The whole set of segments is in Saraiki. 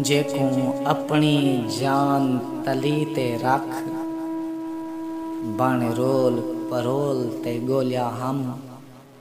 جیکوں اپݨی جان تلی تے رکھ بݨ رول پرول تے ڳولیا ہم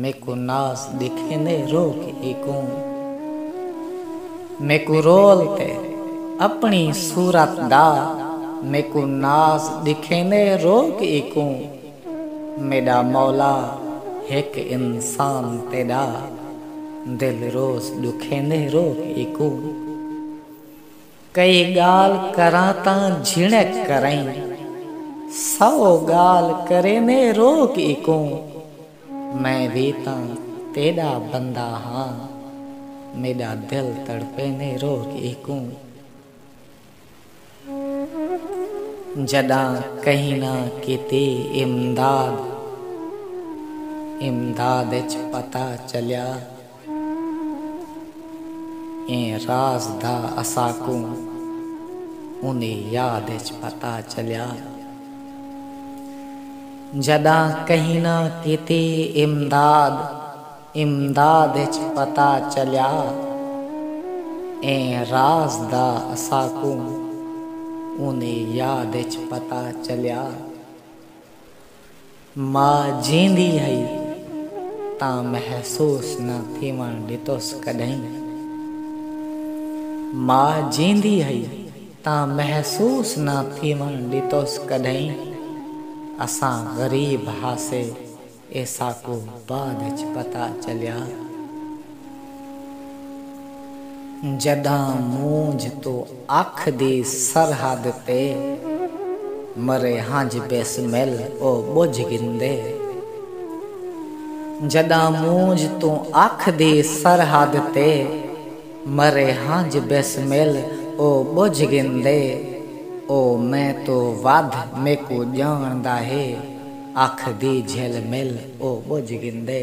میکوں ناس ڈکھیندے رو کے ہیکوں میکوں رول تے اپنی صورت دا میکوں ناس ڈکھیندے رو کے ہیکوں میڈا مولا ہک انسان تیڈا دل روز ڈکھیندے رو کے ہیکوں۔ کئی ڳالھ کراں تاں جھنک کرئیں۔ سو ڳالھ کریندے روک اکوں۔ میں وی تاں تیݙا بندہ ہاں۔ میݙا دل تڑپیندے روک اکوں۔ جݙاں کہیں نہ کیتی امداد۔ امداد اچ پتہ چلیا۔ ایں راز دا اساکوں اوندی یاد اچ پتہ چلیا جݙاں کہیں نہ کیتی امداد امداد اچ پتہ چلیا ایں راز دا اساکوں اوندی یاد اچ پتہ چلیا۔ ماء جیندی ہئی تاں محسوس نہ تھیوݨ ݙتس کݙاہیں ماء جیندی ہئی تاں محسوس نہ تھیوݨ ݙتس کݙاہیں اساں غریب ہاسے اے ساکوں بعد اچ پتہ چلیا۔ جڈاں مونجھ توں اکھ دی سرحد تے مرے ہنج بیسمل او بجھ گھندے جڈاں مونجھ توں اکھ دی سرحد تے مرے ہنج بیسمل او بجھ گھندے او میں توں ودھ میکوں جانڑدا ہے اکھ دی جھل مل او بجھ گھندے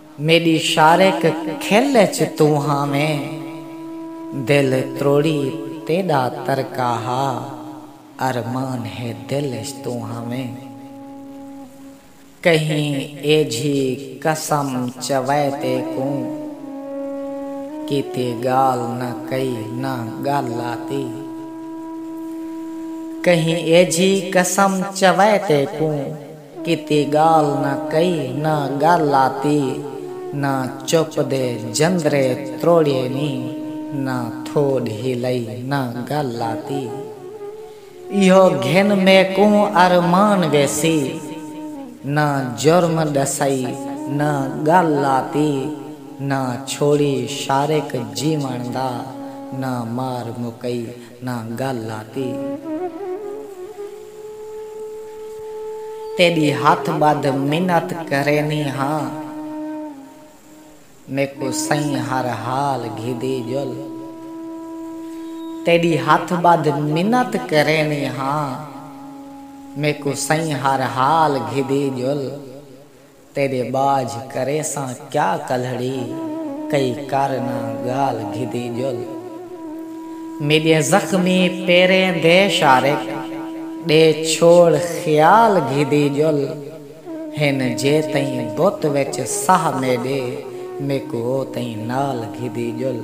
میݙی شارق کھل اچ توں ہاویں دل تروڑی تیݙا ترکا ہا ارمان ہے دل اچ توں ہاویں کہیں ایجھی قسم چوائے تیکوں کیتی ڳالھ نہ کئی نہ ڳل آتی کہیں ایجھی قسم چوائے تیکوں۔ کیتی گالھ نہ کئی نہ گالھ آتی نہ چپ دے جندرے تروڑیے نی نہ تھوڈ ہلئی نہ گالھ آتی ایہو گھن میکوں ارمان ویسی نہ جرم ڈسئی نہ گالھ آتی نہ چھوڑی شارق جیون دا نہ مار مکئی نہ گل لاتی تیݙی ہتھ ٻدھ منت کرینی ہاں میکوں سئیں ہر حال گھدی ڄل تیݙی ہتھ ٻدھ منت کرینی ہاں میکوں سئیں ہر حال گھدی ڄل۔ تیݙے ٻاجھ کریساں کیا کلھڑی کئی کر نہ ڳالھ گھدی ڄل میݙے زخمی پیریں دے شارک ݙے چھوڑ خیال گھدی ڄل ہن جیتئیں بت وچ ساہ میݙے میکوں اوتئیں نال گھدی ڄل۔